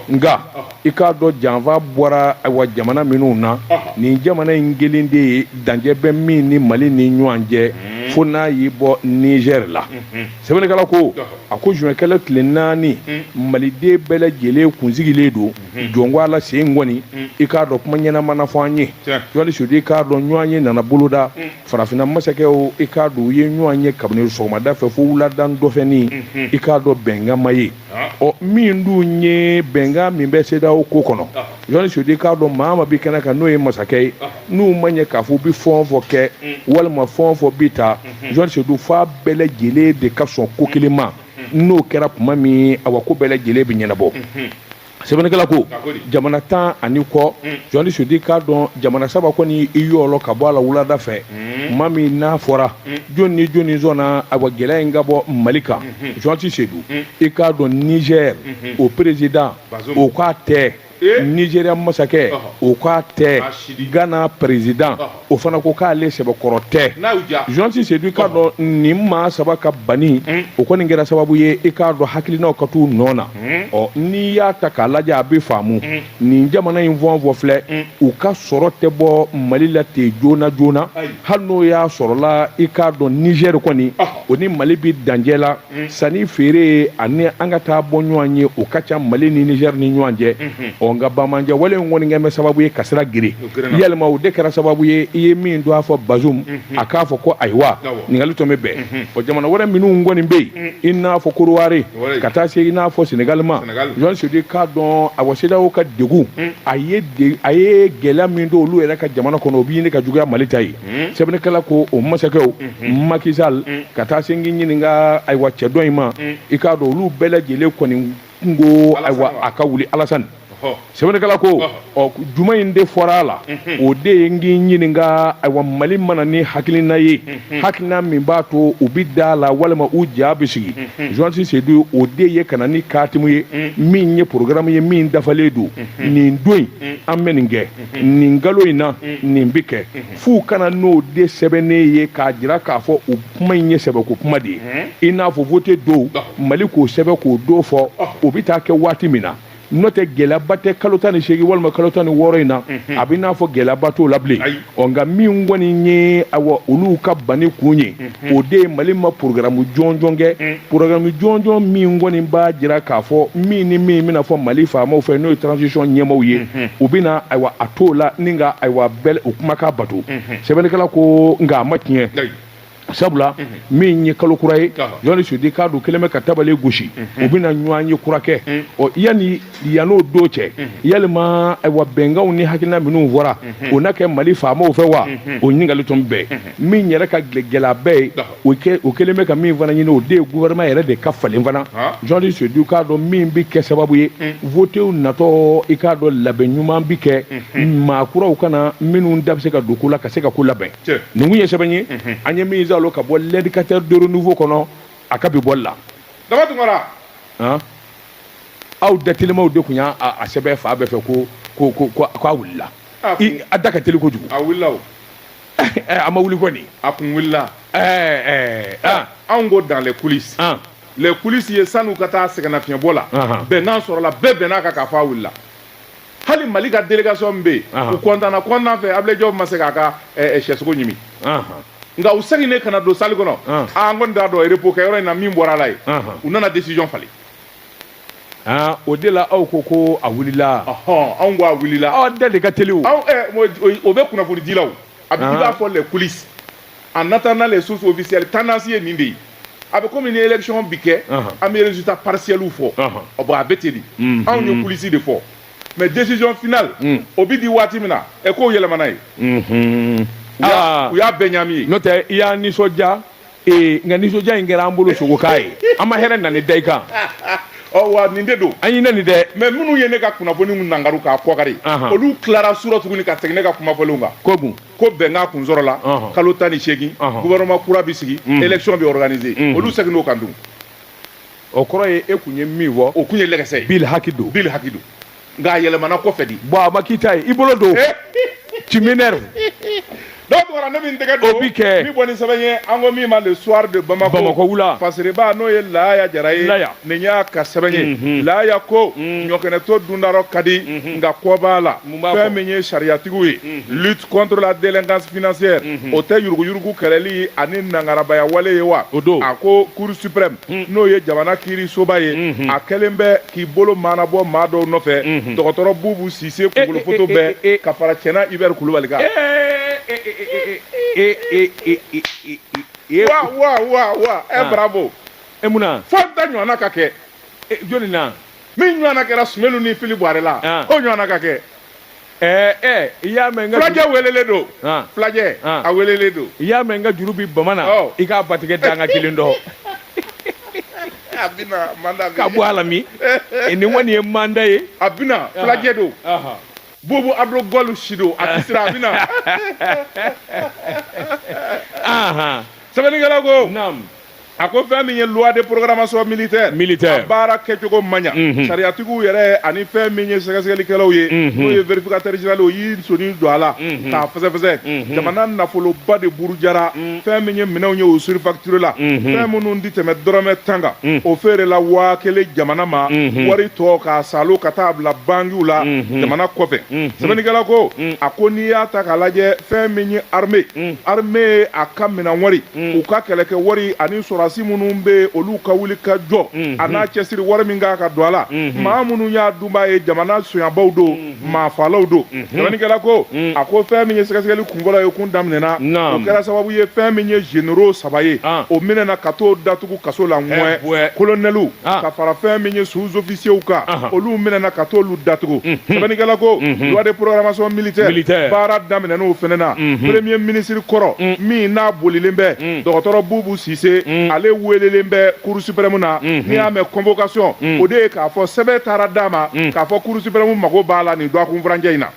nka i k'a dɔn janfa bɔra awa jamana minnu na nin jamana in kelen de ye dancɛ bɛ min ni mali ni ɲɔgɔn cɛ fo n'a y'i bɔ nizɛri la sɛbɛnnikɛla ko a ko zuwɛnkalo tile naani maliden bɛɛ lajɛlen kun sigilen don jɔn ko ala sen kɔni i k'a dɔn kuma ɲɛnama na fɔ an ye jɔnli sudi k'a dɔn ɲɔgɔn ye nana boloda farafinna masakɛw i k'a dɔn u ye ɲɔgɔn ye kabini sɔgɔmada fɛ fo wulada dɔfɛn i k'a dɔn bɛnkan ma ye ɔ min dun ye bɛnkan min bɛ sedeyawo ko kɔnɔ jɔnni sudi k'a dɔn maa o maa bi kɛnɛ kan n'o ye masakɛ ye n'u ma ɲɛ k'a fɔ u bi fɛn o fɛn kɛ walima fɛn o fɛn bi ta jɔnni sudu f'a bɛɛ lajɛlen de ka sɔn ko kelen ma n'o kɛra tuma min awa ko bɛɛ lajɛlen bɛ ɲɛnabɔ sɛbɛnnikɛla ko jamana tan ani kɔ jɔnni sudi k'a dɔn jamana saba kɔni i yɔrɔ ka bɔ a la wulada fɛ kuma min n'a fɔra jɔn ni jɔnni sɔnna awa gɛlɛya in ka bɔ mali kan jɔnti sedu i k'a dɔn nizɛri o perezidan o k'a tɛ nizeriya masakɛ o k'a tɛ gana perezidan o fana ko k'ale sɛbɛkɔrɔ tɛ jɔnti sedu k'a dɔn nin maa saba ka banni o kɔni kɛra sababu ye i k'a dɔn hakilinaw ka t'u nɔ na ɔ n'i y'a ta k'a lajɛ a bɛ faamu nin jamana in fɛn o fɛn filɛ u ka sɔrɔ tɛ bɔ mali la ten joona joona hali n'o y'a sɔrɔla i k'a dɔn nizɛri kɔni o ni mali bɛ dancɛ la sanni feere ani an ka taa bɔ ɲɔgɔn ye o ka ca mali ni nizɛri ni ɲɔgɔn cɛ ɔ nka banbaanci wale in kɔni kɛlen bɛ sababu ye ka sira gere yɛlɛma o de kɛra sababu ye i ye min don a fɔ bazum a k'a fɔ ko ayiwa ɲininkali tun bɛ bɛn o jamana wɛrɛ minnu kɔni bɛ yen i n'a fɔ kɔdiwari ka taa se i n'a fɔ senegali ma jɔn sudi k'a dɔn awa sedeyawo ka degun a ye gɛlɛya min don olu yɛrɛ ka jamana kɔnɔ o bɛ ɲini ka juguya mali ta ye sɛbɛnnikɛla ko o masakɛw maki sali ka taa se n k'i ɲininka ayiwa cɛ dɔ in ma i k'a dɔn olu bɛɛ lajɛlen kɔni ko ayiwa a ka wuli alasani sɛbɛnnikɛla ko ɔ jumɛn de fɔra a la o de ye n k'i ɲininka ayiwa mali ma na ni hakilina ye hakilina min b'a to u bɛ da la walima u ja bɛ sigi jɔsi sedu o de ye ka na ni katimu ye min ye porogaramu ye min dafalen don nin don in an bɛ nin kɛ nin kalo in na nin bɛ kɛ f'u ka na n'o de sɛbɛnnen ye k'a jira k'a fɔ u kuma in ye sɛbɛ ko kuma de ye i n'a fɔ vote don mali k'o sɛbɛn k'o don fɔ o bɛ taa kɛ waati min na n'o tɛ gɛlɛyaba tɛ kalo tan ni seegin walima kalo tan ni wɔɔrɔ in na a b'i n'a fɔ gɛlɛyaba t'o la bilen ɔ nka min kɔni ye awa olu ka banni kun ye o de ye mali ma porogaramu jɔnjɔn kɛ porogaramu jɔnjɔn min kɔni b'a jira k'a fɔ min ni min bɛna fɔ mali faamaw fɛ n'o ye transition ɲɛmaaw ye u bɛna ayiwa a t'o la ni ka ayiwa bɛɛ u kumakan bato sɛbɛnnikɛla ko nka a ma tiɲɛ sabula min ye kalo kura ye ni sudi k'a dɔn kɛlen bɛ ka tabale gosi u bɛna ɲɔgɔn ye kura kɛ ɔ yan yan'o don cɛ yalima ayiwa bɛnkanw ni hakilina minnu fɔra o na kɛ mali faamaw fɛ wa o ɲininkali tun bɛ min yɛrɛ ka gɛlɛn a bɛɛ ye u kɛlen bɛ ka min fana ɲini o de ye gouvernement yɛrɛ de ka falen fana jɔn sudu k'a dɔn min bɛ kɛ sababu ye votew natɔ i k'a dɔn labɛn ɲuman bɛ kɛ maa kuraw ka na minnu da bɛ se ka don ko la ka se ka ko labɛn nin kun ye sɛbɛn ye an ye min zalo ka bɔ l'Indicateur du Renouveau kɔnɔ a ka bi bɔli la daba tunkara aw datelimaw de kun y'a sɛbɛn fan bɛɛ fɛ ko ko a wilila a da ka teli kojugu a wilila a ma wuli kɔni a kun wilila anw ko dans les coulisses les coulisses ye san'u ka taa sɛgɛnnafiɲɛbɔ la bɛnkan sɔrɔla bɛɛ bɛnna a kan k'a fɔ a wulila hali mali ka délégation min bɛ yen Ahan. u kontanna kontan fɛ Ablaye Diop ma se k'a ka eh, eh, sɛsogo ɲimi Ahan. nka u seginnen ka na don salle kɔnɔ Ahan. ah, an kɔni t'a dɔn repos kɛyɔrɔ in na min bɔra a la yen Ahan. u nana décision falen Ah, o de la aw ko ko a wulila ɔhɔn anw ko a wulila aw da de ka teli o anw eh, o- o- o bɛ kunnafonidilaw a bɛ i Ahan. b'a fɔ les coulisses en attendant les sources officielles tendance ye nin de ye a bɛ komi ni élection bi kɛ an bɛ résultat partiel fɔ ɔ bon a bɛ ten de anw ye coulisses de fɔ mais décision finale o bi di waati min na ɛ ko yɛlɛmana yen u y'a bɛɛ ɲami yen n'o tɛ i y'an nisɔndiya nka nisɔndiya in kɛra an bolo sogokan ye an ma hɛrɛ nɛni da i kan ɔ wa nin de don an y'i nɛni dɛ mais minnu ye ne ka kunnafoni nangaru k'a kɔkari olu tilara su ra tuguni ka segin ne ka kuma fɔlenw kan kogun ko bɛnkan kun sɔrɔla kalo tan ni segin gouvernement kura bɛ sigi élection bɛ organiser olu seginn'o kan dun o kɔrɔ ye e tun ye min fɔ o tun ye lɛgɛsɛ ye bilhaki don bilhaki don nka a yɛlɛmana kɔ fɛ dɛ bon a ma k'i ta ye i bolo don ci min tunkara ne min tɛgɛ dɔ bɛ kɛ ni bɔ ni sɛbɛn ye an ko min ma le soir de bamakɔ wula faba n'o ye laya jara ye laya nin y'a ka sɛbɛn ye laya ko ɲɔkɛnɛ to dun da rɔ ka di nka kɔ b'a la Mun b'a fɔ? fɛn min ye sariyatigiw ye lutte contre la délinquance financière o tɛ yuruguyurugu kɛlɛli ani nangarabaya wale ye wa O don. a ko cour suprême n'o ye jamana kiirisoba ye a kɛlen bɛ k'i bolo maanabɔ maa dɔw nɔfɛ dɔgɔtɔrɔ bubu sise kunkolo foto eh, eh, bɛɛ eh. ka fara cɛna ibɛri kulubali kan wa wa wa wa ɛ bravo e mun na fo da ɲɔgɔnna ka kɛ e, jɔni na min ɲɔgɔnna kɛra sumelu ni fili buwarɛ la ah. o ɲɔgɔnna ka kɛ eh, eh, i y'a mɛn n ka fulajɛ welelen don ah. fulajɛ ah. a welelen don i y'a mɛn n ka juru bi bama na oh. i k'a batigɛ dan ka kelen dɔ a bina manda ka bɔ a la min eh, nin kɔni ye manda ye a bina fulajɛ don bubu ardo galo si don a tɛ siran a bina sɛbɛnnikɛla ko a ko fɛn min ye loi de programmation militaire militaire baara kɛcogo man ɲa mhm. sariyatigiw yɛrɛ ani fɛn min ye sɛgɛsɛgɛlikɛlaw ye mhm. n'o ye vérificateur général o y'i sɔnin don a la mhm. k'a fɛsɛfɛsɛ jamana nafoloba de burujara fɛn min ye minɛnw ye o surfacturé la fɛn minnu ti tɛmɛ dɔrɔmɛ tan kan o feerela waa kelen jamana ma wari tɔ k'a salo ka taa bila bangiw la jamana kɔfɛ sɛbɛnnikɛla ko a ko n'i y'a ta k'a lajɛ fɛn min ye armée armée a ka minɛn wari u ka kɛlɛ kɛ wari ani sɔrɔdasi minnu bɛ olu ka wuli ka jɔ a n'a cɛsiri wari min kan ka don a la maa minnu y'a dunbaa ye jamana sonyabaw don maafalaw don sɛbɛnnikɛla ko a ko fɛn min ye sɛgɛsɛgɛli kunfɔlɔ ye kun daminɛna o kɛra sababu ye fɛn min ye généraux saba ye o minɛna ka t'o datugu kaso la Ŋɔɛ colonels ka fara fɛn min ye sous-officiers sew kan olu minɛna ka t'olu datugu sɛbɛnnikɛla ko loi de programmation militaire baara daminɛn'o fɛnɛ na premier ministre kɔrɔ min n'a bolilen bɛ dɔgɔtɔrɔ bubu sise ale weelelen bɛ cour suprême na n'i y'a mɛn convocation o de ye k'a fɔ sɛbɛn taara d'a ma k'a fɔ cour suprême mago b'a la nin dɔgɔkun furancɛ in na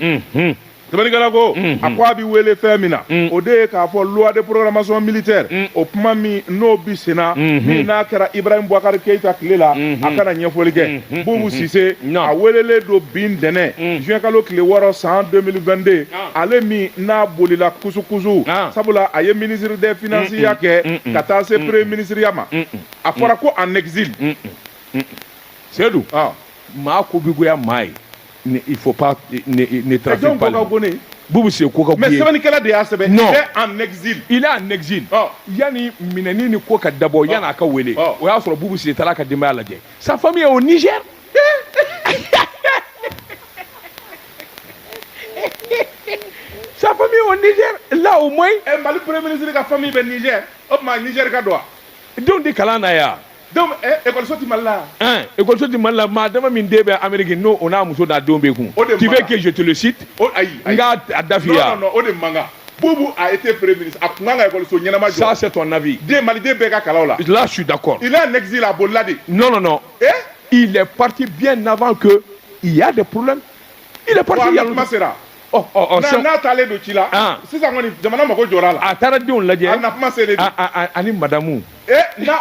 sɛbɛnnikɛla ko a ko a bɛ wele fɛn min na o de ye k'a fɔ loi de programmation militaire o kuma min n'o bi senna min n'a kɛra Ibrahim Boubacar Keita tile la a ka na ɲɛfɔli kɛ Boubou Cisse a welelen don bi ntɛnɛn juin kalo tile wɔɔrɔ san 2022 ale min n'a bolila kusukusu sabula a ye ministre des finances ya kɛ ka taa se premier ministre ya ma a fɔra ko en exil Sedu maa ko bɛ goya maa ye Ne fɔ pa ne taa jɔn ko ko ne bu bɛ se ko ka mɛ sɛbɛnkɛla de y'a sɛbɛn nɔn anz i n'a nɛgɛz yanani minɛn ni ko ka dabɔ yan n'a ka weele o y'a sɔrɔ bu bɛ se taara ka denbaya' lajɛ sa fami ye o ni ce sa o ni la o ma mali pere minisiri ka fɛn min bɛ ni o tuma nizri ka don denw di kalan na yan donc eh, école so ti Mali la hein école so ti Mali la maa dama min den bɛ Amérique n'o o n'a muso n'a denw bɛ kun tu veux que je te le cite o ayi n k'a a dafiya non non o de man kan Boubou a été premier ministre a tun kan ka école so ɲɛnama jɔ ça c'est ton avis den Maliden bɛɛ ka kalan o la là je suis d'accord il est en exil a bolila de non non non eh il est parti bien avant que il y a des problèmes il est parti il y a longtemps n'a taalen don ci la sisan kɔni jamana mako jɔra a la a taara denw lajɛ a na kuma selen ani madamu na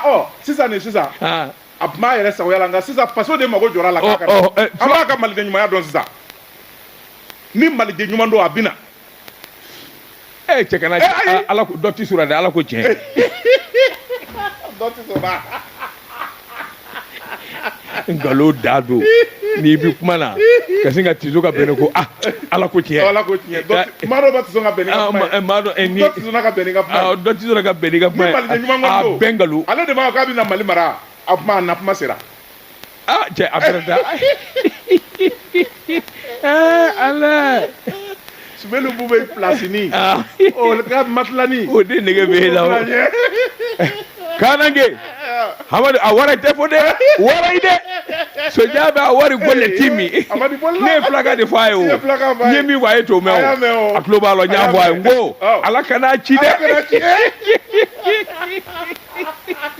sisan ni sisan a tun b'a yɛrɛ sagoya la nka sisan faso de mako jɔra a la k'a ka an b'a ka maliden ɲumanya dɔn sisan ni maliden ɲuman don a bɛ na ee cɛ kana ala dɔ tisora dɛ ala ko tiɲɛ nkalon da don n'i bɛ kuma na ka sin ka tiso ka bɛn ko ah ala ko tiɲɛ ala ko tiɲɛ maa dɔ bɛ tiso ka bɛn ka kuma maa dɔ ni dɔ tiso ka bɛn ka kuma dɔ tiso ka bɛn ka kuma a bɛn nkalon ale de b'a fɔ k'a bɛ na mali mara a kuma a na kuma sera ah cɛ a bɛrɛ da ɛɛ ala sumelu bubɛ pilasini ah o ka matilani o de nege bɛ e la o kanange hamadu a wara tɛ fo dɛ wara yi dɛ soja bɛ a wari gole ti min ne ye fulakan de fɔ a ye o n ye min fɔ a ye t'o mɛn o a tulo b'a la n y'a fɔ a ye n ko ala kana a ci dɛ.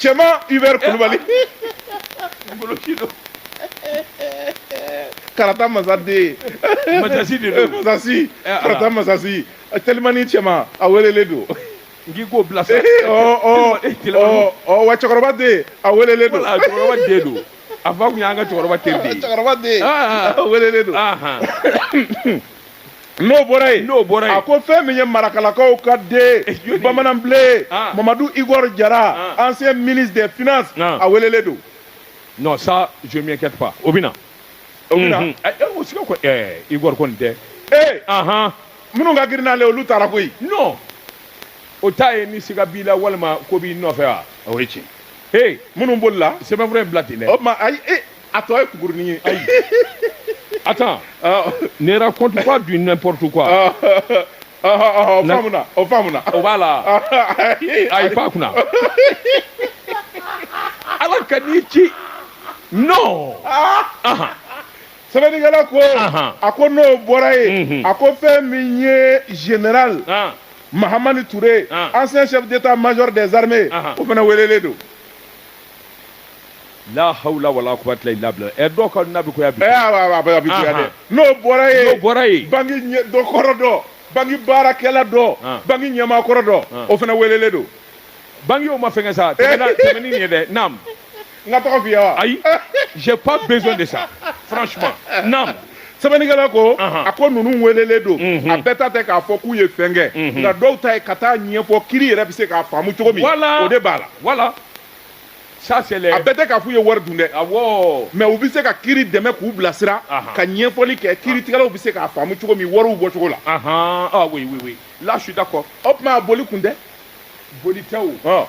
cɛman Hubert Kulubali karata masa den masasi de don masasi eh, karata masasi telimani cɛman a welelen don n'i k'o bila sa wa cɛkɔrɔba den a welelen don cɛkɔrɔba den don a fa tun y'an ka cɛkɔrɔba teri de ye cɛkɔrɔba den a welelen don N'o bɔra yen, n'o bɔra yen, a ko fɛn min ye marakalakaw ka den ye, bamanan ble, an, Mamadu Igor Jara, an, ancien ministre des finances, an, a welelen don. Non ça je m'inquiète pas o bɛ na, o bɛ na, o siga kɔni, ɛɛ Igor kɔni tɛ, ee, anhan, minnu ka girin n'ale ye olu taara koyi, non o t'a ye ni siga b'i la walima ko b'i nɔfɛ wa, o ye tiɲɛ ye, he, minnu bolila, sɛbɛnfura in bila ten dɛ, o tuma ayi, ee A tɔ ye kukurunin ye. Ayi. Attends. Ɔɔ. Ne raconte pas du n'importe quoi. Ɔɔ. Ɔhɔ ɔhɔ o faamuna o faamuna. O b'a la wa? Ɔhɔ. A y'i pan a kunna. Ala kan'i ci. Non. Aa. Anhan. Sɛbɛnnikɛla ko. Anhan. A ko n'o bɔra yen. Unhun. A ko fɛn min ye Général. An. Mahamani Ture. An. Ancien chef d'Etat major des armées. Anhan. O fana welelen don. la hawla wala quwwata illa billah ɛ dɔw ka na bɛ koya bi ɛ a bɛ bi koya dɛ n'o bɔra yen n'o bɔra yen bangi ɲɛ dɔ kɔrɔ dɔ bangi baarakɛla dɔ bangi ɲɛmaa kɔrɔ dɔ o fana welelen don bangi y'o ma fɛngɛ sa tɛmɛna tɛmɛni nin ye dɛ naam n k'a tɔgɔ f'i ye wa ayi j'ai pas besoin de ça franchement naam sɛbɛnnikɛla ko a ko ninnu welelen don a bɛɛ ta tɛ k'a fɔ k'u ye fɛn kɛ nka dɔw ta ye ka taa ɲɛfɔ kiri yɛrɛ bɛ se k'a faamu cogo min o de b'a la ça c'est les a bɛɛ tɛ k'a f'u ye wari dun dɛ awɔ mais u bɛ se ka kiri dɛmɛ k'u bilasira Aha. ka ɲɛfɔli kɛ kiritigɛlaw bɛ se k'a faamu cogo min wariw bɔcogo la ahan ah oui oui oui là je suis d'accord o tuma a boli kun tɛ boli tɛ o ɔ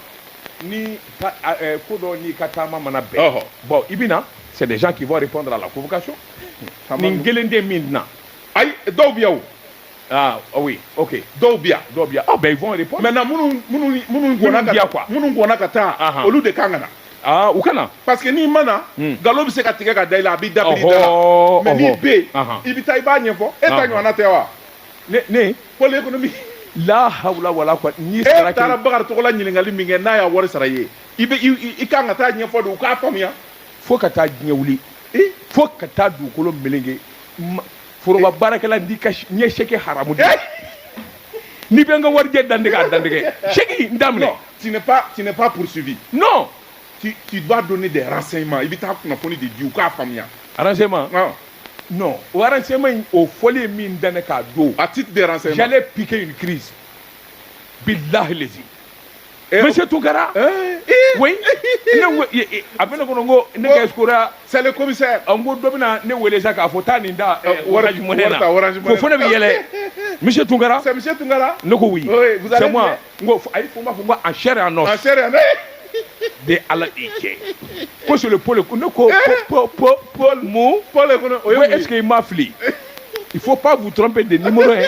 ni ka- a- ɛ, ko dɔ n'i ka taama mana bɛn Ɔhɔ. bon i bɛ na c'est des gens qui vont répondre à la convocation Taama nin ninnu. kelen tɛ min na ayi dɔw bɛ yan o Ah, ah oui, ok. Dɔw bi yan, dɔw bi yan. Ah ben ils vont répondre. Maintenant minnu minnu minnu gɔnna ka taa quoi. Minnu gɔnna ka taa, ah, ah. olu de kan ka na. Ah, u ka na. Parce que n'i ma na, hmm. nkalon bɛ se ka tigɛ ka da i la, a b'i dabiri da la. Mais n'i bɛ yen, i bɛ taa i b'a ɲɛfɔ. E ta ɲɔgɔnna tɛ wa? Ne ne. Pôle économique. La hawla wala quwwata. N'i sara kɛ. E taara Bakari Togola ɲininkali min kɛ n'a y'a wari sara i ye, i bɛ i kan ka taa ɲɛfɔ de, u k'a faamuya. Fo ka taa diɲɛ wuli. Fo ka taa dugukolo melenge. foroba baarakɛla n'i ka n ye sɛki haramu de n'i bɛ n ka warijɛ dantigɛ a dantigɛ sɛki n t'a minɛ non tu n'es pas tu n'es pas poursuivi non tu tu dois donner des renseignements i bɛ taa kunnafoni de di u k'a faamuya renseignement non non o renseignement in o fɔli ye min da ne kan don à titre de renseignement j'allais piquer une crise billahi lezi Eh, mɛ se tun kɛra eh, eh. ko a bɛ ne kɔnɔ ko ne ka kora sale kɔmikisɛ an ko dɔ bɛna ne weele sa k'a fɔ taa nin da wara jumɛn ne ko fo ne bɛ yɛlɛ misi tun kɛra tun kɛra ne ko wuli sɛ ko a ye kun b'a fɔ ko a sɛ yan nɔ de ala i cɛ ko sole paul ne ko paul mu paul kɔnɔ o ye eseke i ma fili i fo pa bu dɔrɔn bɛ de ni ye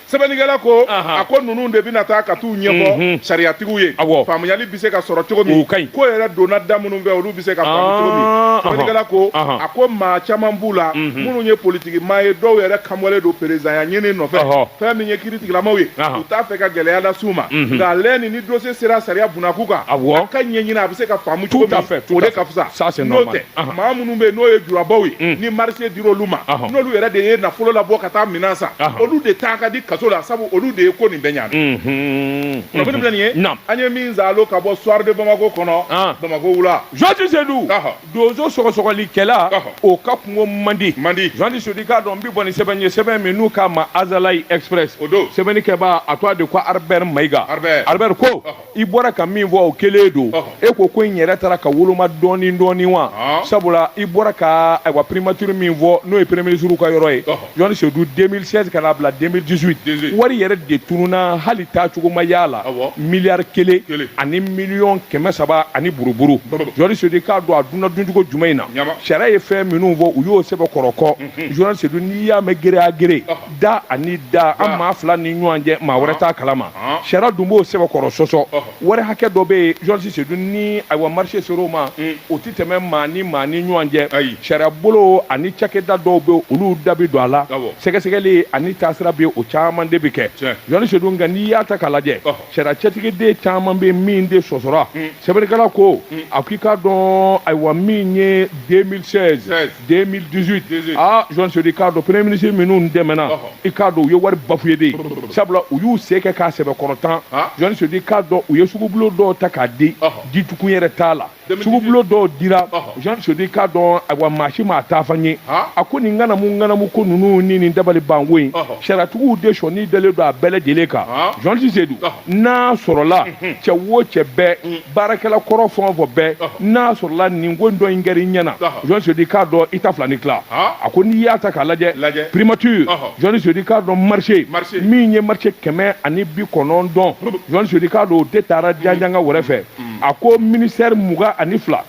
sɛbɛnnikɛla ko a ko ninnu de bɛna taa ka t'u ɲɛfɔ sariyatigiw ye faamuyali bɛ se ka sɔrɔ cogo min ko yɛrɛ donna da minnu fɛ olu bɛ se ka faamu cogo min sɛbɛnnikɛla ko a ko maa caman b'u la minnu ye politiki maa ye dɔw yɛrɛ kanbɔlen don peresidanya ɲini nɔfɛ fɛn min ye kiritigilamaw ye u t'a fɛ ka gɛlɛya lase u ma nka lɛ ni ni dossier sera sariya bunda kun kan a ka ɲɛɲini a bɛ se ka faamu cogo min o de ka fisa n'o tɛ maa minnu bɛ yen n'o ye jurabaw ye mm. ni marché dira olu ma n'olu yɛrɛ de ye nafolo labɔ ka taa minɛn san olu de taa ka di kaso la sabu olu de ye ko nin bɛɛ ɲaami mm-hmm. nin ye an ye min zalo ka bɔ soir de bamako kɔnɔ ah. bamako wula jɔnti sedu donso sɔgɔsɔgɔlikɛla o ka kungo man di man di jɔnti sedu k'a dɔn n bɛ bɔ ni sɛbɛn ye sɛbɛn min n'u k'a ma azalayi express o don sɛbɛnnikɛbaa a tɔgɔ de ko albert mayiga albert ko i bɔra ka min fɔ o kelen don e ko ko in yɛrɛ taara ka woloma dɔɔni dɔɔni wa sabula i bɔra ka ayiwa primature min fɔ n'o ye premier ministre ka yɔrɔ ye John Seydou 2016 ka n'a bila 2018 wari yɛrɛ de tununna hali taacogo ma y'a la miliyari kelen ani miliyɔn kɛmɛ saba ani buruburu John Seydou k'a dɔn a dunna duncogo jumɛn in na sariya ye fɛn minnu fɔ u y'o sɛbɛn kɔrɔkɔ John Seydou n'i y'a mɛn gere a gere da ani da an maa fila ni ɲɔgɔn cɛ maa wɛrɛ t'a kalama sariya dun b'o sɛbɛkɔrɔ sɔsɔ wari hakɛ dɔ bɛ yen journaliste seyidu ni ayiwa marché sera o ma o tɛ tɛmɛ maa ni maa ni ɲɔgɔn cɛ sariya bolo ani cakɛda dɔw bɛ olu da bɛ don a la sɛgɛsɛgɛli ani taasira bɛ o caman de bɛ kɛ journaliste seyidu nka n'i y'a ta k'a lajɛ sariya cɛtigiden caman bɛ min de sɔsɔra sɛbɛnnikɛla ko a ko i k'a dɔn ayiwa min ye 2016 2018 aa journaliste seyidu k'a dɔn premier ministre minnu tɛmɛna Ɔhɔ. i k'a dɔn u ye wari bafoué de ye sabula u y'u se kɛ k'a sɛbɛkɔrɔ tan Ah. journaliste seyidu k'a dɔn u ye sugubulo dɔw ta k'a di Ɔhɔ. ditukun yɛrɛ t'a la sugubulo dɔw dira Ɔhɔ. journaliste seyidu k'a dɔn ayiwa maa si m'a taafan ye Ah. a ko nin ŋanamu ŋanamu ko ninnu ni nin dabalibanko in Ɔhɔ. sariyatigiw de sɔnin dalen don a bɛɛ lajɛlen kan Ah. journaliste seyidu Ɔhɔ. n'a sɔrɔla cɛ o cɛ bɛɛ baarakɛla kɔrɔ fɛn o fɛn bɛɛ n'a sɔrɔla nin ko in dɔ in kɛra i ɲɛna journaliste Seyidu k'a dɔn i ta fila ni tila a ko n'i y'a ta k'a lajɛ primature journaliste Seyidu k'a dɔn marché min ye marché kɛmɛ ani bi kɔnɔntɔn journaliste Seyidu k'a dɔn o de taara janjanga wɛrɛ fɛ a ko ministère mugan ani fila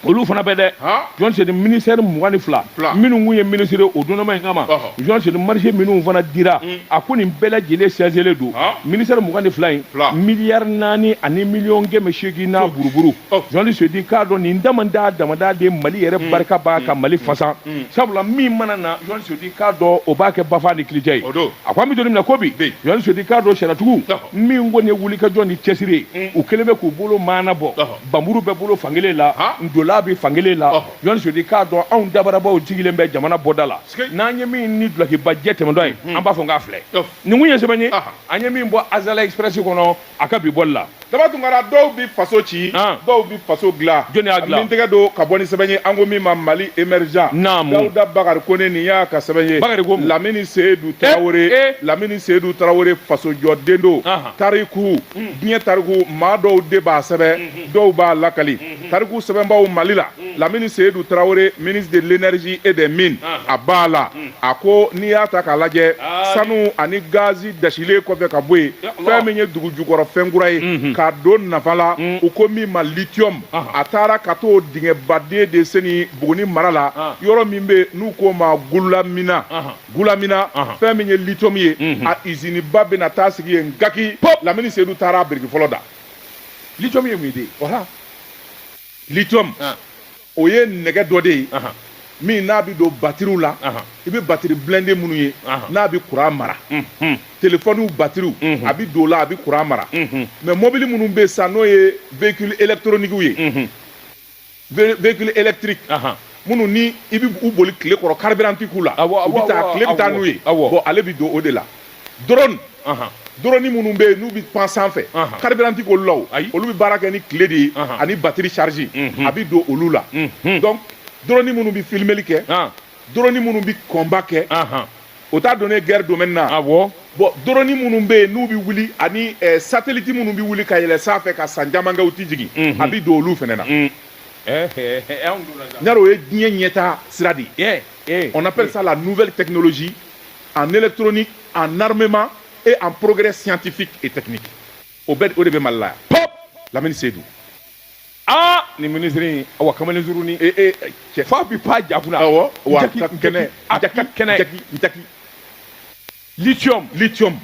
olu fana bɛ dɛ journaliste seyidu ministère mugan ni fila minnu kun ye minisiri o donma in kama journaliste seyidu marché minnu fana dira hmm. a ko nin bɛɛ lajɛlen sigilen don ministère mugan ni fila in miliyari naani ani miliyɔn kɛmɛ seegin n'a buruburu journaliste seyidu k'a dɔn nin damada damada de mali yɛrɛ hmm. barika b'a ka hmm. mali fasa sabula min mana na journaliste seyidu k'a dɔn o b'a kɛ bafa ni kirija ye a ko an bɛ don min na ko bi journaliste seyidu k'a dɔn sariyatigi min kɔni ye wulikajɔ ni cɛsiri ye u kɛlen bɛ k'u bolo maana bɔ npanmuru bɛ bolo fankelen la ntola bɛ fankelen la journaliste seyidu k'a dɔn anw dabarabaw sigilen bɛ jamana bɔda la n'an ye min ni dulokiba jɛ tɛmɛtɔ ye an b'a fɔ k'a filɛ nin kun ye sɛbɛn ye an ye min bɔ azalaï express kɔnɔ a ka bi bɔ la daba tunkara dɔw bɛ faso ci dɔw bɛ faso dilan jɔn tɛgɛ don ka bɔ ni sɛbɛn ye an ko min ma mali émergent dawuda bakari kone nin y'a ka sɛbɛn ye ministre lamini seyidu tarawele lamini seyidu tarawele fasojɔden don tariku diɲɛ tariku maa dɔw de b'a sɛbɛn dɔw b'a lakali tariku sɛbɛnbaw mali la lamini seyidu tarawele ministre de l'énergie et des mines a b'a la a ko n'i y'a ta k'a lajɛ sanu ani gazi dasilen kɔfɛ ka bɔ yen fɛn min ye dugu jukɔrɔ fɛn kura ye k'a don nafa la u ko min ma lithium a taara ka t'o dingɛbaden de seni buguni mara la yɔrɔ min bɛ yen n'u k'o ma gulamina Gulamina fɛn min ye lithium ye a usine ba bɛna taa sigi yen gaki lamini seyidu taara biriki fɔlɔ da lithium ye mun de voilà lithium o ye nɛgɛ dɔ de ye min n'a bɛ don batiriw la i bɛ batiri blindé minnu ye n'a bɛ kuran mara téléphone batiriw a bɛ don o la a bɛ kuran mara mais mɔbili minnu bɛ san n'o ye véhicule électronique ye véhicule électrique ahan minnu ni i bɛ u boli tile kɔrɔ carburant k'u la awɔ awɔ u bɛ taa tile bɛ taa n'u ye awɔ bon ale bɛ don o de la drone ahan drone minnu bɛ yen n'u bɛ pan sanfɛ ahan carburant k'olu la o ayi olu bɛ baara kɛ ni tile de ye ahan ani batterie charge a bɛ don olu la donc drone minnu bɛ filmeli kɛ an. drone minnu bɛ kɔnba kɛ o t'a don ne gɛrɛ don na a bɔ bɔn drone minnu bɛ yen n'u bɛ wuli ani sateliliti minnu bɛ wuli ka yɛlɛɛlɛn sanfɛ ka san camankɛ tɛ jigin a bɛ don olu fana na n o ye diɲɛ ɲɛ taa sira de kɔnɔsa la n'u bɛ tɛkinilolɔsi a ne trin a namɛma e an poroɛrɛ siyatefin e tɛini o bɛ o de bɛ mali la lamini se don aa nin minisiri in awa kamalen surunin ee ee cɛ f'a bi pan ja kunna awɔ wa Jaki- ka kɛnɛ jaki- jaki kɛnɛ jaki jaki lithium lithium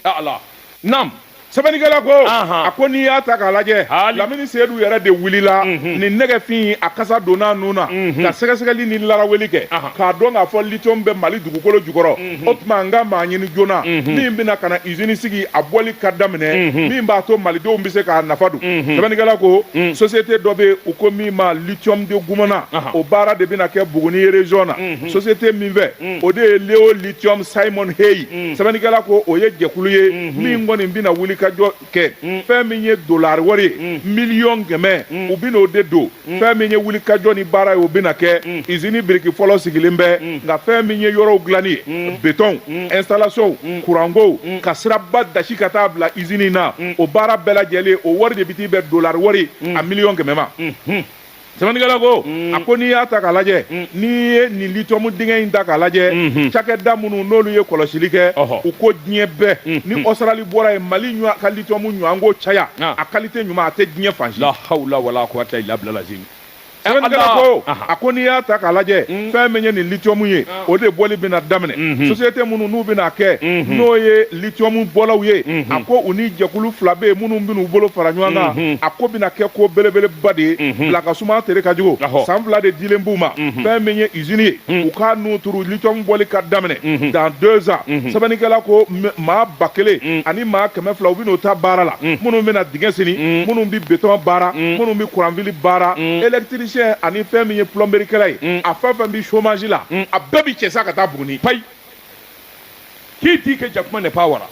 a ala nam sɛbɛnnikɛla ko Ahan. a ko n'i y'a ta k'a lajɛ Hali. lamini seyidu yɛrɛ de wulila Mhm. nin nɛgɛfin a kasa donna a nun na Mhm. ka sɛgɛsɛgɛli ni laraweli kɛ Ahan. k'a dɔn k'a fɔ lithium bɛ mali dugukolo jukɔrɔ o tuma an ka maa ɲini joona min bɛna ka na usine sigi a bɔli ka daminɛ min b'a to malidenw bɛ se k'a nafa dun sɛbɛnnikɛla ko société dɔ bɛ u ko min ma lithium de gumana o baara de bɛna kɛ buguni région na société min fɛ o de ye leo lithium simon hay sɛbɛnnikɛla ko o ye jɛkulu ye min kɔni bɛna wuli ka jɔ kɛ mm. fɛn min ye dolari wari ye mm. miliyɔn kɛmɛ mm. u bɛn'o de don fɛn min ye wulikajɔ ni baara ye o bɛna kɛ usine biriki fɔlɔ sigilen bɛ nka fɛn min ye yɔrɔw dilanni ye betɔnw installation kurankow ka siraba dasi ka taa bila usine na o baara bɛɛ lajɛlen o wari de bɛ t'i bɛn dolari wari a miliyɔn kɛmɛ ma. sɛbɛnnikɛla ko mm. a ko n'i y'a ta k'a lajɛ mm. n'i ye nin lithium dingɛ in ta k'a lajɛ mm-hmm. cakɛda minnu n'olu ye kɔlɔsili kɛ u ko diɲɛ bɛɛ mm-hmm. ni Australie bɔra yen mali ɲɔ ka lithium ɲɔgɔn ko caya ah. a qualité ɲuman a tɛ diɲɛ fan si. la hawla wala quwata illa billah lazim. sɛbɛnnikɛla ko a ko n'i y'a ta k'a lajɛ mm. fɛn min ye nin lithium ye. Ah. o de bɔli bɛna daminɛ mhm. société minnu n'u bɛna kɛ mhm. n'o ye lithium bɔlaw ye mhm. a ko u ni jɛkulu fila bɛ yen minnu bɛna u bolo fara ɲɔgɔn kan a ko bɛna kɛ ko belebeleba de ye bila ka suma tere ka jugu san fila de dilen b'u ma fɛn min ye usine ye u ka n'o turu lithium bɔli ka daminɛ dans deux ans sɛbɛnnikɛla ko maa ba kelen ani maa kɛmɛ fila u bɛna u ta baara la minnu bɛna dingɛ seni minnu bɛ beton baara minnu bɛ kuranfili baara électricité électricien ani fɛn min ye plomberie kɛla ye mm. a fɛn fɛn bi chômage la mm. a bɛɛ bi cɛ sa ka taa Buguni payi k'i t'i kɛ jakuma ne pa wara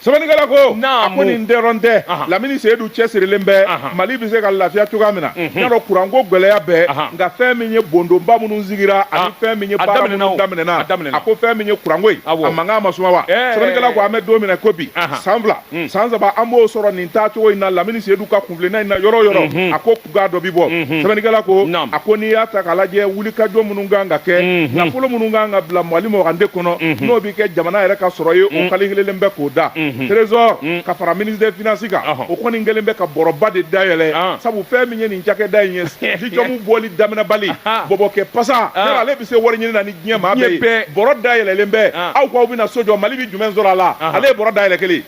sɛbɛnnikɛla ko a ko nin dɔrɔn tɛ lamini seyidu cɛsirilen bɛ mali bɛ se ka lafiya cogoya min na mhm. y'a dɔn kuranko gɛlɛya bɛ nka fɛn min ye bondonba minnu sigira ani fɛn min ye baara minnu daminɛna a ko fɛn min ye kuranko ye a mankan ma suma wa sɛbɛnnikɛla ko an bɛ don min na ko bi san fila mm. san saba an b'o sɔrɔ nin taacogo in na lamini seyidu ka kunfilenna in na yɔrɔ yɔrɔ mhm. a ko k'a dɔ bi bɔ mhm. sɛbɛnnikɛla ko a ko n'i y'a ta k'a lajɛ wulikajɔ minnu kan ka kɛ mhm. nafolo minnu kan ka bila mali mɔgande kɔnɔ mhm. n'o bɛ kɛ jamana yɛrɛ ka sɔrɔ ye o kali kelelen bɛ k'o da trésor ka fara ministre des finances kan o kɔni kɛlen bɛ ka bɔrɔba de dayɛlɛ ah. sabu fɛn min ye nin cakɛda in ye lithium bɔli daminɛbali ah. bɔbɔkɛ pasa ah. yala ale bɛ se wari ɲini na ni diɲɛ maa bɛɛ ye bɔrɔ dayɛlɛlen bɛ aw k'aw bɛna so jɔ mali bɛ jumɛn sɔrɔ a la ale ye bɔrɔ dayɛlɛ kelen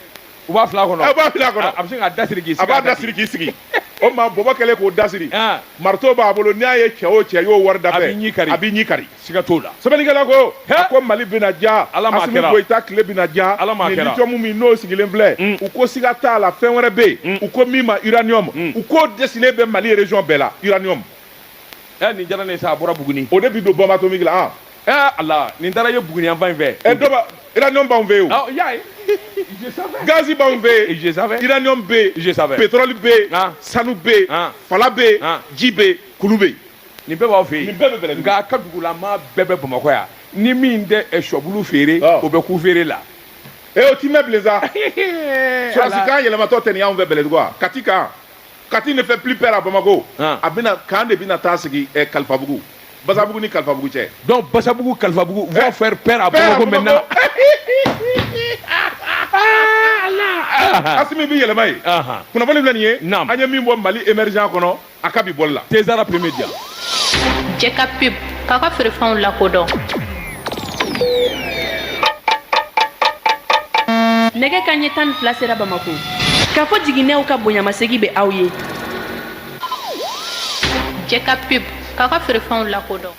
U b'a fil'a kɔnɔ b'a fil'a kɔnɔ a bɛ sin k'a da siri k'i sigi a b'a da siri k'i sigi o ma bɔbɔ kɛlen k'o da siri Aa. marteau b'a bolo n'i y'a ye cɛ o cɛ y'o wari dafɛ A b'i ɲi kari. a b'i ɲi kari siga t'o la sɛbɛnnikɛla ko He. a ko mali bɛna diya Ala m'a Asimi kɛra. goyita tile bɛna diya Ala m'a nin kɛra. lithium min n'o sigilen filɛ Mm. u ko siga t'a la fɛn wɛrɛ bɛ yen u ko min ma uranium u k'o desilen bɛ mali région bɛɛ la uranium ɛ nin diyara ne ye sa a bɔra buguni o de bi don bombe atomique la an ɛ ala nin taara ye buguni yanfan in fɛ ɛ dɔ ba uranium b'anw fɛ yen o y'a ye gazi b'anw fɛ yen je savais uranium bɛ yen je savais pétrole bɛ yen ah. sanu bɛ yen ah. fala bɛ yen ah. ji bɛ yen kulu bɛ yen nin bɛɛ b'aw fɛ yen nin bɛɛ bɛ bɛlɛ nka a ka dugula maa bɛɛ bɛ bamakɔ yan ni min tɛ eh, sɔbulu feere o bɛ ku feere la ee o ti mɛn bilen sa sɔrɔsikan yɛlɛmatɔ tɛ nin y'anw fɛ bɛlɛdugu wa kati kan Kati ne fɛ p pe a bamakɔ a bɛna kan de bɛna taa sigi kalifabugubugu basabugu ni kalifabugu cɛ dɔn basabugu kalifabugu p a min bɛ yɛlɛma ye kunnafoni bɛ nin ye an ye min bɔ mali emerid kɔnɔ a ka bɛ bɔ la tɛ p bɛ jan Jɛka pub k'a ka feerefɛnw lakodɔn nɛgɛ kanɲɛ tan ni fila sera bamakɔ kafo jiginɛw ka bonyamasegi bɛ aw ye jɛka pub k'a ka feerefɛnw lakodɔn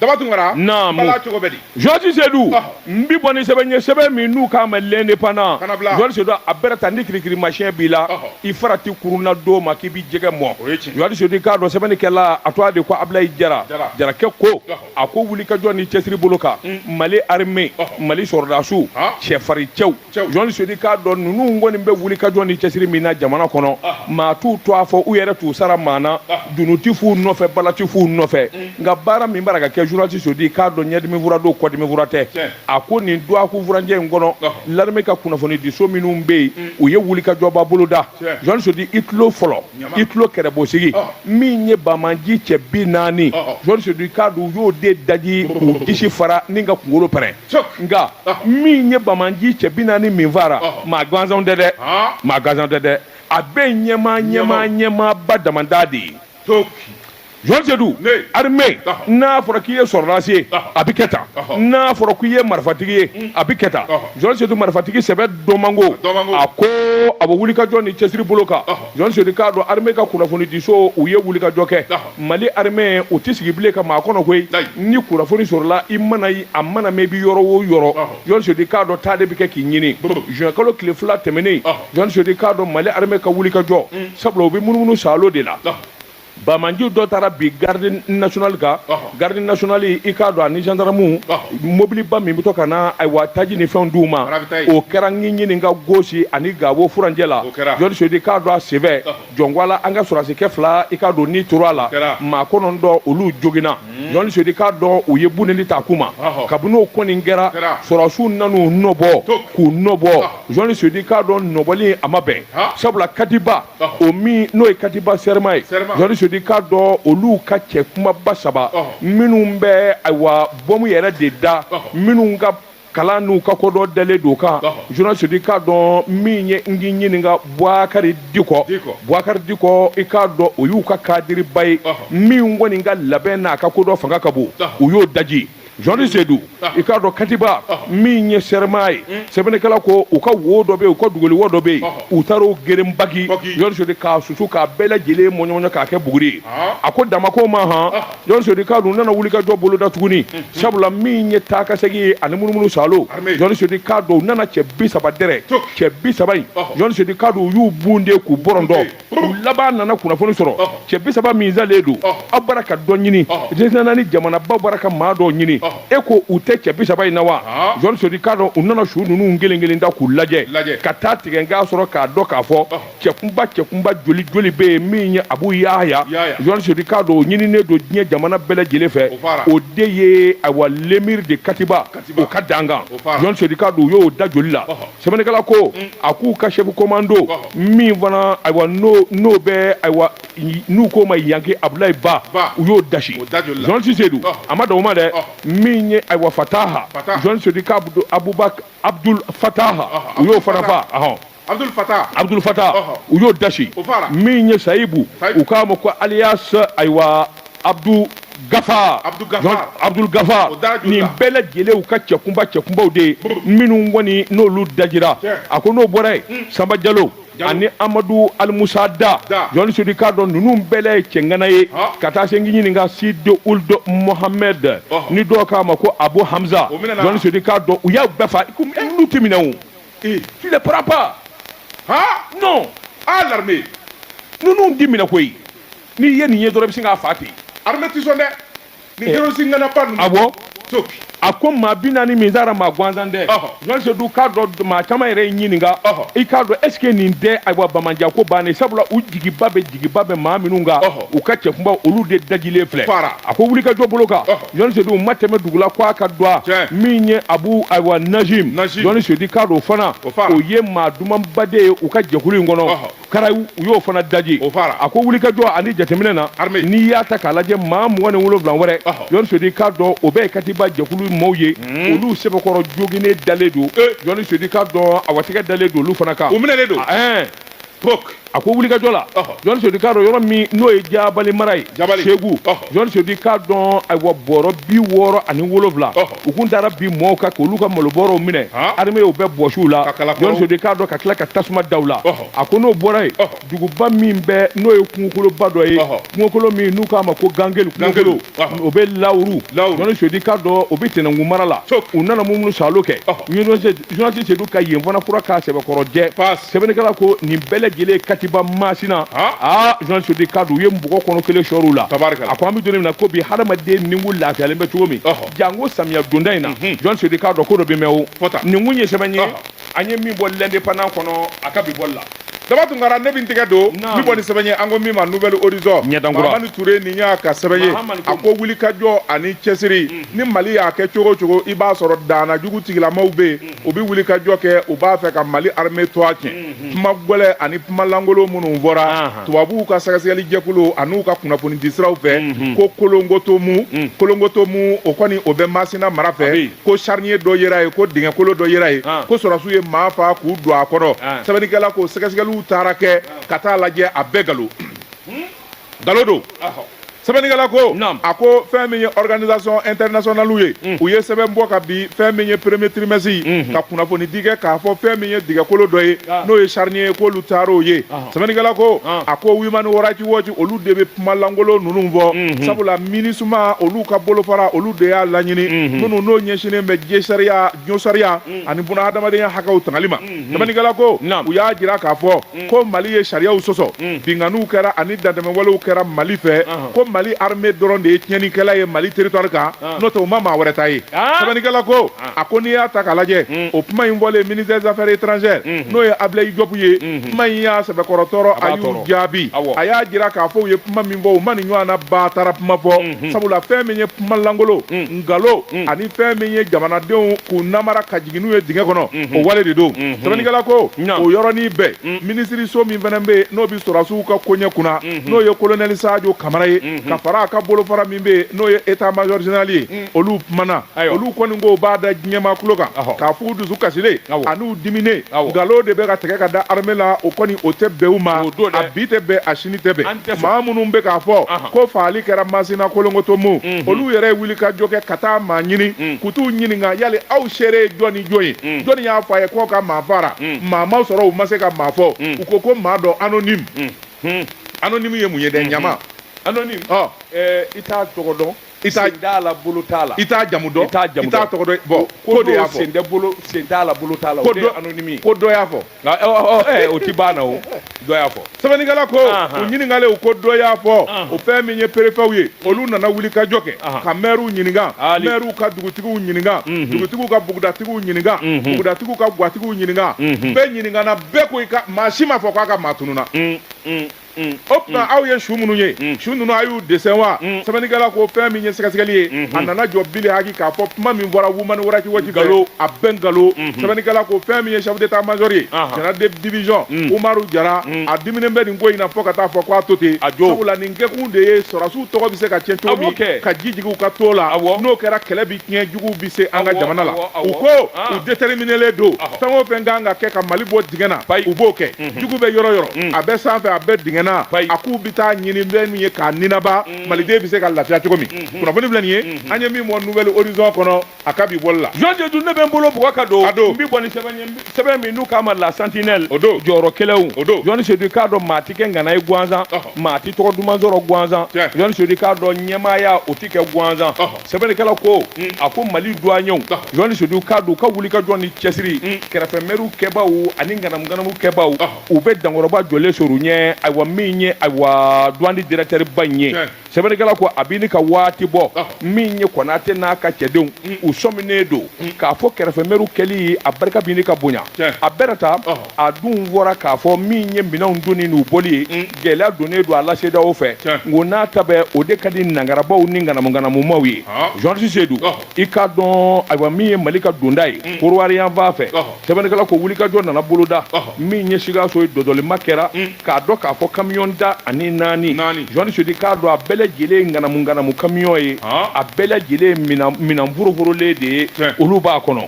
daba tunkara bala cogo bɛ di journaliste Sedou ah. n bi bɔ ni sɛbɛn ye sɛbɛn min n'u k'a ma l'indépendant journaliste Sedou a bɛrɛ ta ni kirikirimasiɛn b'i la ah. i farati kurun na don ma k'i bi jɛgɛ mɔn journaliste Sedou k'a dɔn sɛbɛnnikɛla a tɔgɔ de ko Ablaye Jara Jarakɛ ko ah. a ko wulikajɔ ni cɛsiri bolo kan hmm. Mali armée Mali sɔrɔdasiw cɛfarin cɛw journaliste Sedou k'a dɔn ninnu kɔni bɛ wulikajɔ ni cɛsiri min na jamana kɔnɔ maa t'u tɔgɔ fɔ u yɛrɛ t'u sara maa na dunun ti f'u nɔfɛ bala ti f'u nɔfɛ nka baara min bara ka kɛ journaliste Sedou k'a dɔn ɲɛdimi fura don kɔdimi fura tɛ a ko nin dɔgɔkun furancɛ in kɔnɔ l'armée ka kunnafoni diso minnu bɛ yen u ye wulikajɔba boloda journaliste Sedou i tulo fɔlɔ i tulo kɛrɛbosigi min ye banbaanci cɛ bi naani journaliste Sedou k'a dɔn u y'o de daji k'u disi fara ni ka kunkolo pɛrɛn nka min ye banbaanci cɛ bi naani min fara maa gansan tɛ dɛ maa gansan tɛ dɛ a bɛɛ ɲɛmaa ɲɛmaa ɲɛmaaba damada de ye Jɔni Sedu armée n'a fɔra k'i ye sɔrɔdasi ye a bɛ kɛ tan n'a fɔra k'i ye marifatigi ye a bɛ kɛ tan Jɔni Sedu marifatigi sɛbɛ dɔn man go a ko a bɛ wulikajɔ ni cɛsiri bolo kan Jɔni Sedu k'a dɔn armée ka kunnafonidiso u ye wulikajɔ kɛ Mali armée u tɛ sigi bilen ka maa kɔnɔ koyi, ayi, ni kunnafoni sɔrɔla i mana ye a mana mɛn i bɛ yɔrɔ o yɔrɔ, ɔhɔ, Jɔni Sedu k'a dɔn taa de bɛ kɛ k'i ɲini, brrr, juin kalo tile fila tɛmɛnen, ɔhɔ, Jɔni Sedu k'a dɔn Mali armée ka wulikajɔ, un, sabula u bɛ munumunu saalo de la, ɔhɔ, banbaanci dɔ taara bin garde nationale kan, ɔhɔ, garde nationale i k'a dɔn a ni gendarmes, ɔhɔ, mobiliba min bɛ to ka na ayiwa taji ni fɛnw d'u ma, ɔhɔ, o kɛra n k'i ɲininka Gosi ani Gawo furancɛ la, o kɛra, Jɔni Sedu k'a dɔn a sɛbɛ, ɔhɔ. jɔnkwala an ka sɔrasikɛ fila i k'a dɔn ni tora a la maa kɔnɔntɔn olu joginna Jɔni Sedu k'a dɔn u ye buneli ta k'u ma kabini n'o kɔni kɛra sɔrasiw nan'u nɔbɔ k'u nɔbɔ Jɔni Sedu k'a dɔn nɔbɔli a ma bɛn sabula katiba o min n'o ye katiba Sɛrɛma ye Jɔni Sedu k'a dɔn olu ka cɛ kunbaba saba minnu bɛ ayiwa bɔmu yɛrɛ de da minnu ka kalan n'u ka kodɔn dalen don kan Jɔni Sedu i k'a dɔn min ye n k'i ɲininka Bouakari Diko Bouakari Diko i k'a dɔn o y'u ka kadiriba ye min kɔni ka labɛn n'a ka kodɔn fanga ka bon u y'o daji Jɔni Sedu i k'a dɔn katiba min ye Sɛrɛma ye sɛbɛnnikɛla ko u ka wo dɔ bɛ yen u ka dogoli wo dɔ bɛ yen u taar'o geren baki Jɔni Sedu k'a susu k'a bɛɛ lajɛlen mɔɲɔmɔɲɔ k'a kɛ buguri ye a ko dan ma k'o ma han Jɔni Sedu k'a dɔn u nana wulikajɔ boloda tuguni sabula min ye taa ka segin ye ani munumunu salo Jɔni Sedu k'a dɔn u nana cɛ bi saba dɛrɛ cɛ bi saba in Jɔni Sedu k'a dɔn u y'u bunte k'u bɔrɔntɔ u laban nana kunnafoni sɔrɔ cɛ bi saba min salen don aw bara ka dɔ ɲini diɲɛsɛnna ni jamanabaw bara ka maa dɔw ɲini e ko u tɛ cɛ bi saba in na wa Jɔni Sedu k'a dɔn u nana su ninnu kelen kelen da k'u lajɛ ka taa tigɛ k'a sɔrɔ k'a dɔn k'a fɔ cɛkunba cɛkunba joli joli bɛ yen min ye abu yahaya Jɔni Sedu k'a dɔn o ɲininen don diɲɛ jamana bɛɛ lajɛlen fɛ o de ye ayiwa l'émir de katiba o ka dankan Jɔni Sedu k'a dɔn u y'o da joli la sɛbɛnnikɛla ko mm. a k'u ka chef commando min fana ayiwa n'o n'o bɛ ayiwa n'u k'o ma yanke abulayi ba u y'o dasi Jɔni Sedu a ma dan o ma dɛ min ye ayiwa fataha Jɔni Sedu k'a abubakar abdul fataha u y'o fana fa Abudulu fata Abudulu fata u y'o dasi min ye sayibu u k'a ma ko alias ayiwa Abudu gafa Abudu gafa nin bɛɛ lajɛlen u ka cɛkunba cɛkunbaw de ye minnu kɔni n'olu dajira a ko n'o bɔra yen sanba jalo ani Amadu alimusa da journaliste Seydou k'a dɔn ninnu bɛɛ ye cɛŋana ye ka taa se n k'i ɲininka Sidi Ould Mohamed ni dɔw k'a ma ko abu hamza journaliste Seydou k'a dɔn u y'a bɛɛ fa ninnu tɛ minɛ Ee tu ne prends pas haa non ah l'armée ninnu tɛ minɛ koyi n'i ye nin ye dɔrɔn i bɛ sin k'a fa ten armée tɛ sɔn dɛ nin Eh. terroriste ŋanaba ninnu awɔ topi a ko maa bi naani min taara maa gansan tɛ Ɔhɔ. journaliste Seydou k'a dɔn maa caman yɛrɛ y'i ɲininka Ɔhɔ. i k'a dɔn est ce que nin tɛ ayiwa bamanjan ko bannen sabula u jigiba bɛ jigiba bɛ maa minnu kan Ɔhɔ. u ka cɛkunba olu de dajilen filɛ Fara. a ko wulikajɔ bolo kan Ɔhɔ. journaliste Seydou u ma tɛmɛ dugu la ko a ka dɔa min ye abu ayiwa najim journaliste Seydou k'a dɔn fana o ye maa dumanba de ye u ka jɛkulu in kɔnɔ kara u y'o fana daji a ko wulikajɔ ani jateminɛ na n'i y'a ta k'a lajɛ maa mugan ni wolonwula wɛrɛ journaliste Seydou k'a dɔn o bɛɛ ye katiba jɛkulu maaw ye hmm. olu sɛbɛkɔrɔ joginnen dalen don journaliste Seydou k'a dɔn a watigɛ dalen don olu fana kan u minɛlen don Pok. a ko wulikajɔ la Ɔhɔ. journaliste Seydou k'a dɔn yɔrɔ min n'o ye jabali mara ye Jabali. segu Ɔhɔ. journaliste Seydou k'a dɔn ayiwa bɔrɔ bi wɔɔrɔ ani wolonwula Ɔhɔ. u kun taara bin mɔɔw kan k'olu ka malobɔrɔw minɛ Han. armée y'o bɛɛ bɔsi u la Ka kala kɔrɔw. journaliste Seydou k'a dɔn ka tila ka tasuma da u la Ɔhɔ. a ko n'o bɔra yen Ɔhɔ. duguba min bɛ n'o ye kungokoloba dɔ ye Ɔhɔ. kungokolo min n'u k'a ma ko gangeli kungokolo Gangelu. o bɛ lawuru journaliste Seydou k'a dɔn o bɛ tɛnɛnkun mara la u nana munumunu saalo kɛ journaliste Seydou ka yen fana furan k'a sɛbɛkɔrɔ jɛ sɛbɛnnikɛla ko nin bɛɛ lajɛlen katiba masina aa journaliste Seydou k'a dɔn u ye mɔgɔ kɔnɔ kelen sɔrɔ u la tari a ko an bɛ don min na ko bi hadamaden ni kun lafiyalen bɛ cogo min janko samiya donda in na journaliste Seydou k'a dɔn ko dɔ bɛ mɛn o nin kun ye sɛbɛn ye an ye min bɔ l'indépendant kɔnɔ a ka bi bɔli la daba tunkara ne bɛ n tɛgɛ don n bɛ bɔ ni sɛbɛn ye an ko min ma Nouvel Horizon ɲɛdankura mahamani ture nin y'a ka sɛbɛn ye a ko wulikajɔ ani cɛsiri mm. ni mali y'a kɛ cogo o cogo i b'a sɔrɔ daana jugu tigilamaw bɛ yen mm. u bɛ wulikajɔ kɛ u b'a fɛ ka mali armée tɔa tiɲɛ mm-hmm. kuma gɛlɛn ani kuma lankolon minnu bɔra tubabuw ka sɛgɛsɛgɛli jɛkulu an'u ka kunnafonidi siraw fɛ mm-hmm. ko kolongotomu mm. kolongotomu o kɔni o bɛ masina mara fɛ ko charnier dɔ yera yen ko dingɛkolo dɔ yera yen ah. ko sɔrɔsiw ye maa fa k'u don a kɔnɔ ah. sɛbɛnnikɛla ko sɛgɛsɛgɛliw taara kɛ ah. ka taa lajɛ a bɛɛ ngalon hmm? ngalon don sɛbɛnnikɛla ko a ko fɛn min ye organisation internationale ye hmm. u ye sɛbɛn bɔ kabi fɛn min ye premier trimestre hmm. ka kunnafoni di kɛ k'a fɔ fɛn min ye dingɛkolo dɔ ye n'o ye charnier ye k'olu taar'o ye sɛbɛnnikɛla ko a ko Human Rights Watch olu de bɛ kuma lankolon ninnu fɔ mhm. sabula MINUSMA olu ka bolofara olu de y'a laɲini mhm. minnu n'o ɲɛsinnen bɛ jesariya josariya mhm. ani buna hadamadenya hakɛw tangali ma sɛbɛnnikɛla ko u y'a jira k'a fɔ ko mali ye sariyaw sɔsɔ binkanniw kɛra ani dantɛmɛwalew kɛra mali fɛ ko mali armée dɔrɔn de ye tiɲɛnikɛla ye mali territoire kan n'o tɛ u ma maa wɛrɛ ta ye sɛbɛnnikɛla ko a ko n'i y'a ta k'a lajɛ mm. o kuma in fɔlen ministère des affaires étrangères mm-hmm. n'o ye Ablaye Diop ye mm-hmm. kuma in y'a sɛbɛkɔrɔ tɔɔrɔ a y'u jaabi a y'a jira k'a fɔ u ye kuma min fɔ u ma nin ɲɔgɔn na batara kuma fɔ mm-hmm. sabula fɛn min ye kuma lankolon mm. nkalon mm. ani fɛn min ye jamanadenw k'u namara ka jigin n'u ye dingɛ kɔnɔ o wale de don sɛbɛnnikɛla ko o yɔrɔnin bɛɛ minisiriso min fana bɛ yen n'o bɛ sɔrɔdasiw ka koɲɛ kunna n'o ye kolonɛli sajo kamara ye ka fara a ka bolofara min bɛ yen n'o ye état major général ye olu kumana Ayiwa. olu kɔni ko u b'a da diɲɛmaa tulo kan Ɔhɔ. k'a f'u dusu kasilen Awɔ. an'u diminen Awɔ. nkalon de bɛ ka tigɛ ka da armée la o kɔni o tɛ bɛn u ma O don dɛ. a bi tɛ bɛn a sini tɛ bɛn An tɛ sɔn. maa minnu bɛ k'a fɔ Ahan. ko faali kɛra masina kolongotomo olu yɛrɛ ye wulikajɔ kɛ ka taa maa ɲini k'u t'u ɲininka yali aw seere ye jɔn ni jɔn ye jɔnni y'a fɔ a ye k'aw ka maa faara maa ma sɔrɔ u ma se ka maa fɔ u ko ko maa dɔ anonyme anonyme ye mun ye dɛ ɲama anonyme Ɔ. ɛɛ, i t'a tɔgɔ dɔn i t'a sen t'a la bolo t'a la i t'a jamu dɔn i t'a jamu dɔn i t'a tɔgɔ dɔn bɔn ko dɔ y'a fɔ sen tɛ bolo sen t'a la bolo t'a la ko dɔ anonyme ko dɔ y'a fɔ nka ɔ, ɔ, ɔ, ɛ, o ti ban na o dɔ y'a fɔ sɛbɛnnikɛla ko Ahan. u ɲininkalen u ko dɔ y'a fɔ Ahan. o fɛn min ye perefɛw ye olu nana wuli ka jɔ kɛ Ahan. ka mɛriw ɲininka Ali. mɛriw ka dugutigiw ɲininka Mhm. dugutigiw ka bugudatigiw ɲininka Mhm. bugudatigiw ka gwatigiw ɲininka Mhm. bɛɛ ɲininkana bɛɛ ko i ka maa si m'a fɔ k'a ka maa tununna Mm, mm. o tuma aw ye su minnu ye su ninnu a y'u dessin wa sɛbɛnnikɛla ko fɛn min ye sɛgɛsɛgɛli ye a nana jɔ bilihaki k'a fɔ kuma min bɔra Human Rights Watch nkalon a bɛɛ nkalon sɛbɛnnikɛla ko fɛn min ye chef d'état major ye général de division umaru jara a diminen bɛ nin ko in na fo ka t'a fɔ k'a to ten a jo sabula nin kɛkun de ye sɔrɔsiw tɔgɔ bɛ se ka tiɲɛ cogo min ka ji jigin u ka to la n'o kɛra kɛlɛ bi tiɲɛ juguw bɛ se an ka jamana la u ko u déterminelen don fɛn o fɛn ka kan ka kɛ ka mali bɔ dingɛ na u b'o kɛ jugu bɛ yɔrɔ o yɔrɔ mm. a bɛ sanfɛ a bɛ dingɛ na a k'u bɛ t'a ɲini bɛ min ye k'a ninaba mm. maliden bɛ se ka lafiya cogo min mm-hmm. kunnafoni filɛ nin ye mm-hmm. an ye min bɔ Nouvel Horizon kɔnɔ a ka bi bɔli la Jean Seydou ne bɛ n bolo bugɔ ka don a don n bɛ bɔ ni sɛbɛn ye sɛbɛn min n'u k'a ma la sentinelle o don jɔyɔrɔ kɛlɛw o don Jean Seydou k'a dɔn maa tɛ kɛ ŋana ye gansan maa tɛ tɔgɔ duman sɔrɔ gansan Jean Seydou k'a dɔn ɲɛmaaya o tɛ kɛ gansan sɛbɛnnikɛla ko mm. a ko mali duwanyew Jean Seydou k'a dɔn u ka wulikajɔ ni cɛsiri mm. kɛrɛfɛmɛriw kɛbaaw ani ŋanamuŋanamu kɛbaaw u bɛ dankɔrɔba jɔlen sɔr'u ɲɛ ayiwa min ye ayiwa duwani dirɛkitɛriba in ye sɛbɛnnikɛla ko a bini ka waati bɔ min ye Konate n'a ka cɛdenw mm. u sɔminen don k'a fɔ kɛrɛfɛmɛriw kɛli a barika bini ka bonya a bɛrɛ ta a dun fɔra k'a fɔ min ye minɛnw donni n'u bɔli ye mm. gɛlɛya donnen don a la cedeao fɛ nko n'a ta bɛ o de ka di nangarabaw ni ŋanamuŋanamumaw ye jean ah. seydou i k'a dɔn ayiwa min ye mali ka donda ye mm. kodiwari yanfan fɛ sɛbɛnnikɛla ko wulikajɔ nana boloda min ye sikaso ye dɔdɔlima kɛra mm. k'a dɔn k'a fɔ kamiyɔn tan ani naani jean seydou k'a dɔn a bɛɛ lajɛlen ye ŋanamuŋanamu kamiyɔn ye a bɛɛ lajɛlen minɛn foroforolen de ye olu b'a kɔnɔ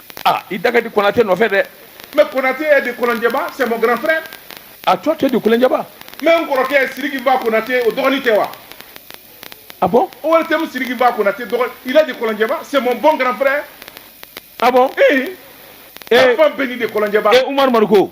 ah i da ka di konate nɔfɛ dɛ mais konate est de kolonjɛba c'est mon grand frère ah toi tu es de kolonjɛba mais n kɔrɔkɛ sidiki n'fa konate o dɔgɔnin tɛ wa ah bon ortm sidiki n'fa konate dɔgɔ il est de kolonjɛba c'est mon bon grand frère ah bon eh enfant béni de kolonjɛba eh umaru mariko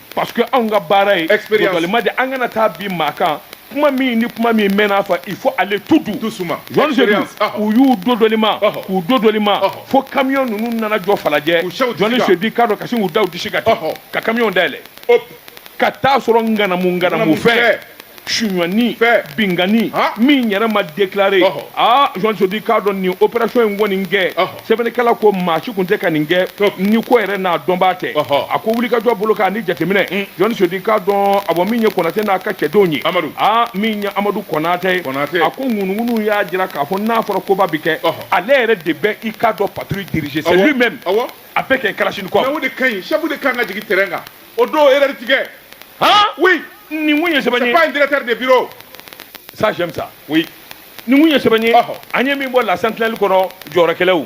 parce que anw ka baara ye dɔdɔlima de an kana taa bin maa kan kuma min ni kuma min mana fɔ il faut aller tout doucement jean seydou ah. u y'u dɔdɔlima ah. k'u dɔdɔlima ah. fo camion ninnu nana jɔ falajɛ jean seydou k'a dɔn ka sin k'u da u disi kan ten ka camion dayɛlɛ ka taa sɔrɔ ŋanamuŋanamu fɛn sunyani bingani min yɛrɛ ma déclaré aa Jean Seydou k'a dɔn nin opération in kɔni kɛ sɛbɛnnikɛla ko maa si tun tɛ ka nin kɛ ni ko yɛrɛ n'a dɔnbaa tɛ a ko wulikajɔ bolo kan ni jateminɛ Jean Seydou k'a dɔn awɔ min ye Konate n'a ka cɛdenw ye aa min ye Amadu Konate ye a ko ŋunuŋunu y'a jira k'a fɔ n'a fɔra koba bɛ kɛ ale yɛrɛ de bɛ i k'a dɔn patrouille diriger c'est lui-même avec Kalachnikov mais o de ka ɲi chef de ka kan ka jigin terrain kan o don erreur ti kɛ han oui nin kun ye sɛbɛn ye c'est pas un directeur de bureau ça j'aime ça oui nin kun ye sɛbɛn ye an ye min bɔ la sentinelle kɔnɔ jɔyɔrɔkɛlɛw